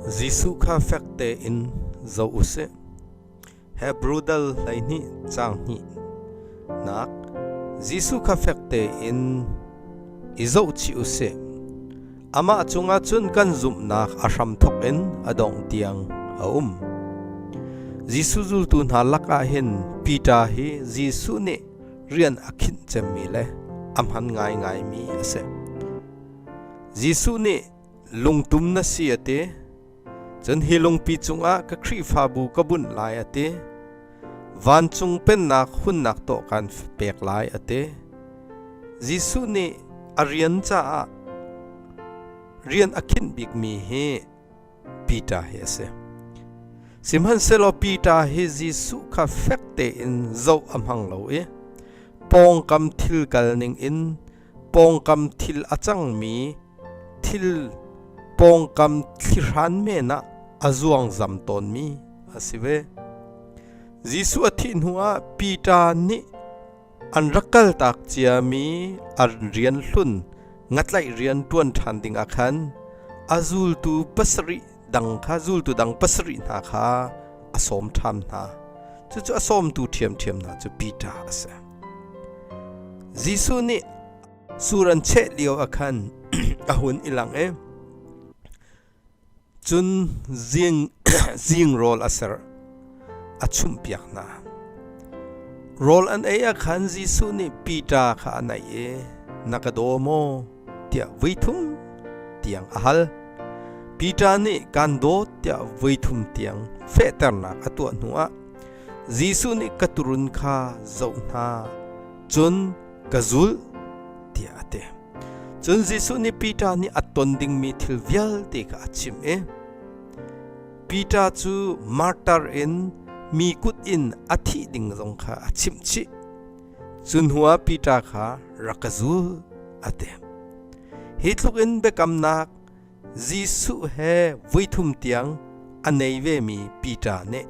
Jesuh kha fek tein zoh u sih. Hebru dal hleihnih caang hnihnak Jesuh kha fek tein i zohchih u sih. Amah cungah cun kan zumhnak a hramthawk in a dongh tiang a um. Jesuh zultu hna lakah hin Peter hi Jesuh nih rian a khinh cemmi le a hman ngaingaimi a si. Jesuh nih lungtum na si a ti cun hi lungpi cungah ka khrihfabu ka bunh lai a ti vancung pennak hunnak tawh kan pek lai a ti Jesuh nih a rian caah rian a khinh bikmi hi Peter hi a si sihmanhsehlaw Peter hi Jesuh kha fek tein zoh a hmang lo i pawngkam thil kal ning in pawngkam thil a cangmi thil pawngkam thlihran men ah a zuangzam tawnmi a si ve. Jesuh a thih hnuah Peter nih an rak kaltak ciami an rian hlun ngatlaih rian ṭuan ṭhan dingah khan a zultu pasarih dang kha zultu dang pasarih hna kha a sawm ṭham hna. Cucu a sawmtu ṭhiamṭhiam hna cu Peter a si. Jesuh nih sur an cheh lio ah khan a hun i lang i cun zing, zing rawl a ser a chumhpiak hna. Rawl an ei ah khan Jesuh nih Peter kha a naih i, Na ka daw maw? tiah voi thum tiang a hal. Peter nih kan daw tiah voi thum tiang fehternak a tuah hnuah Jesuh nih ka turun kha zoh hna cun ka zulh tiah a ti. Cun Jesuh nih Peter nih a ton dingmi thil vialte kha a chim i Peter cu martar in mi kut in a thih ding zong kha a chimh chih. Cu hnuah Piter kha rak ka zulh a ti. Hi tlukin biakamnak Jesuh he voithum tiang a nei vemi Piter nih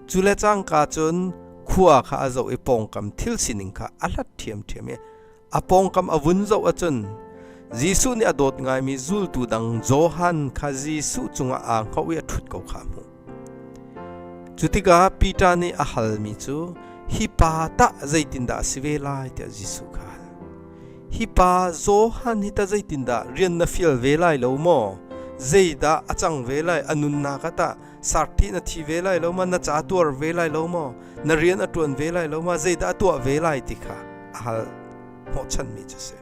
cule cangka cun khua kha a zoh i pawngkam thil sining kha a hlat ṭhiamṭhiam i a pawngkam a vun zoh ahcun Jesuh nih a dawt ngaimi zultu dang Johan kha Jesuh cungah aa hngaoh i a ṭhut ko kha a hmuh. Cu tikah Peter nih a halmi cu hi pa tah zeitindah a si ve lai tiah Jesuh kha hi pa Johan hi tah zeitindah rian na fial ve lai lo maw? Zeidah a cang ve lai? A nunnak ah tah sarṭi na thi ve lai lo ma? Na ca tuar ve lai lo maw? Na rian a ṭuan ve lai lo ma? Zeidah a tuah ve lai ti kha a hal hnawhchanmi cu a si.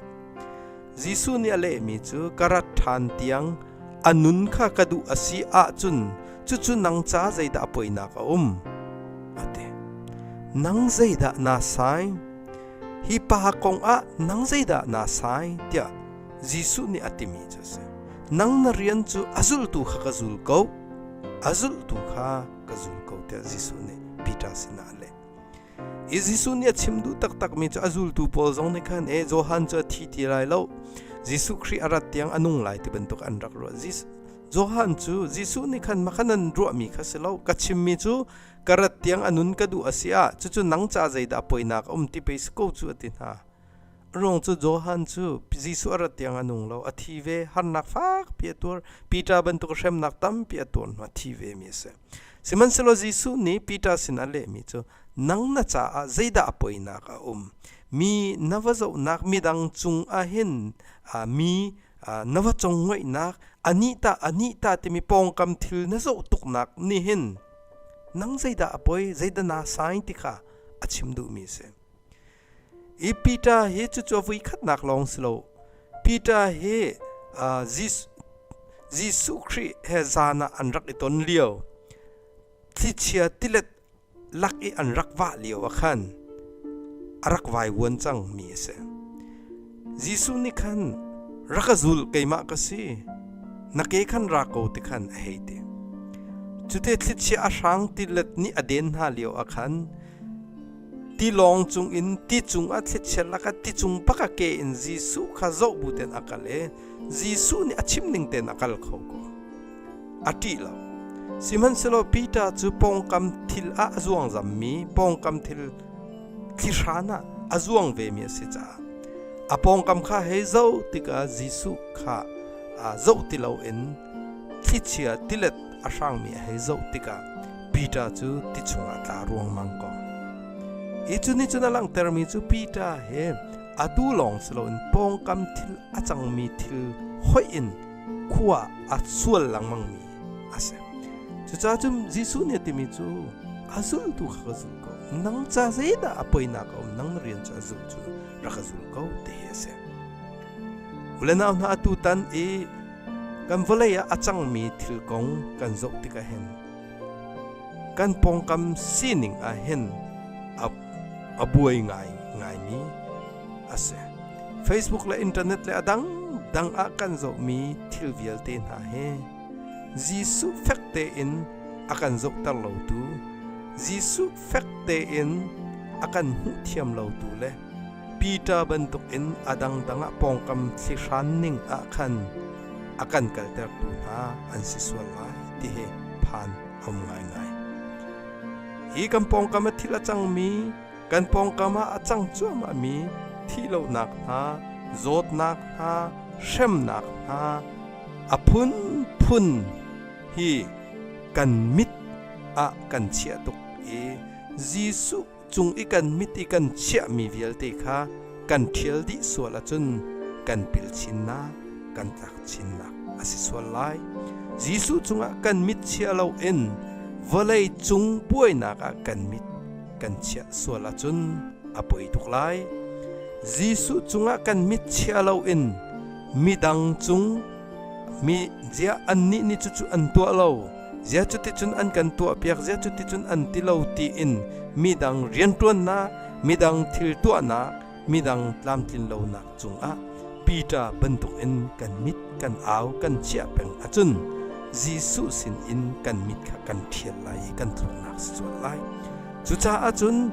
Jesuh nih a lehmi cu ka rat ṭhan tiang a nun kha ka duh a si ahcun cucu nang ca zeidah poinak a um? a ti. Nang zeidah naa sai? Hi pa kongah nang zeidah naa sai? tiah Jesuh nih a timi cu a si. Nang na rian cu a zultu kha ka zul ko, a zultu kha ka zul ko tiah Jesuh nih Peter sinah a leh. i Jesuh nih a chim duh taktakmi cu a zultu pawl zong nih khan e Johan cu a thi ti lai lo Jesuh Khrih a rat tiang a nung lai ti bantuk an rak ruah Johan cu Jesuh nih khan makhan an ruahmi kha si lo ka chimmi cu ka rat tiang a nun ka duh a si ah cucu nang ca zeidah poinak a um ti pei si ko cu a ti hna Rung cu Johan cu Jesuh a rat tiang a nung lo. A thi ve. Harnak fakpi a tuar. Peter bantuk hremnak tampi a tuar hnu a thi vemi a si. Sihmanhsehlaw Jesuh nih Peter sin a lehmi cu, Nang na caah zeidah a poinak a um? Mi na va zohnak midang cung ah hin aa mi na va congoihnak anih tah, anih tah timi pawngkam thil na zoh tuknak nih hin nang zeidah a poi, zeidah naa sain ti kha a chim duhmi a si. i Peter hi cucu a vuikhatnak lawng si lo Peter hi uh, Jesuh Khrih he zan ah an rak i ton lio thlichia tilet lak i an rak wah lio ah khan a rak vai wuan cang mi a si Jesuh nih khan rak a zul keimah ka si na ke khan ra ko ti khan a hei ti cute thlichia a hrang tilet nih a den hna lio a khan tilawng cungin ti cung a thlichialnak ah ti cung bak a ke in Jesuh kha zoh bu ten a kal i Jesuh nih a chim ning ten a kal kho ko a ṭih lo sihmanhsehlaw Peter cu pawngkam thil ah a zuang zammi pawngkam thil thlihran ah a zuang vemi a si caah a pawngkam kha hei zoh tikah Jesuh kha zoh ti loin Thlichia tilet a hrangmi a hei zoh tikah Peter cu ti chungah tla ruangmang ko. Hi cu nih cun a langhtermi cu Peter he atu lawng si loin pawngkam thil a cangmi thil hoih in khua a sual lengmangmi a si. Cucaah cun Jesuh nih a timi cu a zultu kha ka zul ko. Nang ca zeidah a poinak a um? Nang na rian cu a zul cu rak ka zul ko ti hi a si. Ule nau hna atu tan i kan vawlei ah a cangmi thil kong kan zoh tikah hin kan pawngkam sining ah hin a, a buai ngai ngaimi a si facebook le internet le a dang dang ah kan zohmi thil vialte hna he Jesuh fek tein a kan zohter lotu Jesuh fek tein a kan hmuh thiam lotu le Peter bantukin a dangdang ah pawngkam thlihran ning ah khan a kan kaltertu hna an si sual lai ti hi phan a um ngaingai. Hi kan pawngkam a thil a cangmi, kan pawngkam ah a cang cuahmahmi thih lonak hna, zawtnak hna, hremnak hna, a phunphun hi kan mit ah kan chiah tuk i Jesuh cung i kan mit i kan chiahmi vialte kha kan ṭhial dih sual ahcun kan pil chinnak kan tlak chinnak a si sual lai Jesuh cungah kan mit chiah lo in vawlei cung buainak ah kan mit kan chiah sual ahcun a poi tuk lai Jesuh cungah kan mit chiah lo in midang cung mi zia annih nih cucu an tuah lo zia cuticun an kan tuahpiak zia cuticun an ti lo tiin midang rianṭuannak midang thil tuahnak midang tlamtlinlonak cungah Peter bantukin kan mit kan au kan chiah peng ahcun Jesuh sin in kan mit kha kan ṭhial lai i kan thuknak si sual lai cucaah cun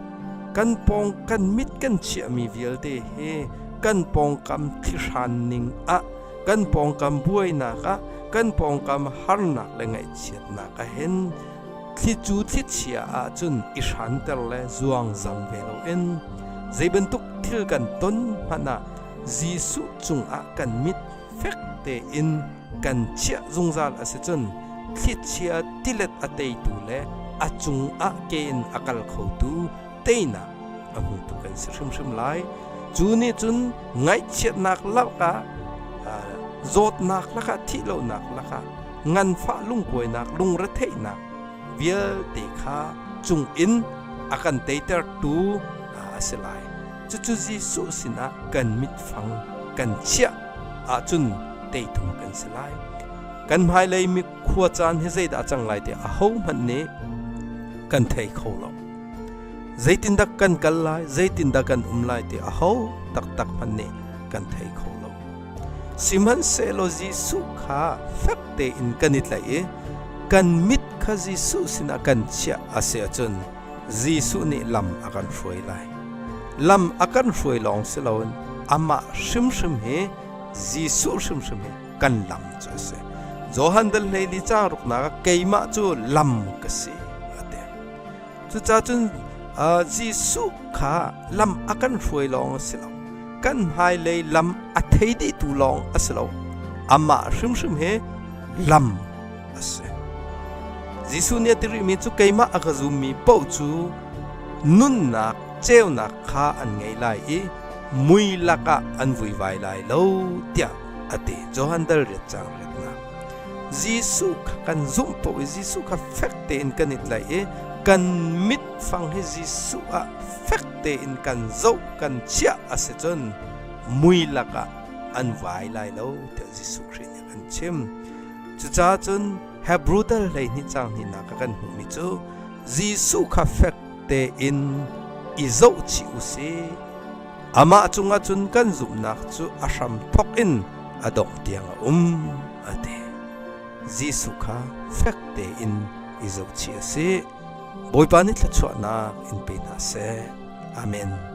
kan pawng kan mit kan chiahmi vialte he kan pawngkam thlihran ning ah kan pawngkam buainak ah kan pawngkam harnak le ngaihchiatnak a hen thli cu thlichia ahcun i hranter le zuangzam ve loin zei bantuk thil kan ton hmanh ah Jesuh cungah kan mit fek tein kan chiah zungzal a si cun thlichia tilet a teitu le a cungah ke in a kal khotu teinak a hmutu kan si hrimhrim lai cu nih cun ngaihchiatnak lakah zawtnak lakah thih lonak lakah nganfah lungkuainak lungretheihnak vialte kha cung in a kan teitertu a si lai cucu Jesuh sinah kan mitfang kan chiah ahcun teithum kan si lai kan hmailei mi khua caan hi zeidah a cang lai tiah ahohmanh nih kan thei kho lo Zeitindah kan kal lai, zeitindah kan um lai ti a ho taktak hman nih kan thei kho lo. Sihmanhsehlaw Jesuh kha fek tein kan i tlaih i kan mit kha Jesuh sinah kan chiah a si ahcun Jesuh nih lam a kan hruai lai. Lam a kan hruai lawng si loin amah hrimhrim hi Jesuh hrimhrim hi kan lam cu a si. Johan dal hlei ni ca ruknak ah keimah cu lam ka si. Cucacun Jesuh kha lam a kan hruai lawng a si lo, kan hmailei lam a thei dihtu lawng a si lo, amah hrimhrim hi lam a si. Jesuh nih a ti rihmi cu keimah a ka zummi paoh cu nunnak ceunak kha an ngei lai i mui lakah an vuivai lai lo tiah a ti. Johan dal riat caang riatnak Jesuh kha kan zumh paoh i Jesuh kha fek tein kan i tlaih i kan mit fang hi Jesuh ah fek tein kan zoh kan chiah a si cun mui lakah an vai lai lo tiah Jesuh Khrih nih a kan chim. Cucaah cun Hebrew dal hleihnih cang hnihnak ka kan hmuhmi cu Jesuh kha fek tein i zohchih u sih Amah cungah cun kan zumhnak cu a hram thawk in a dongh tiang a um, a ti. Jesuh kha fek tein i zohchih a si. Bawipa nih thluachuahnak in pe hna seh. Amen.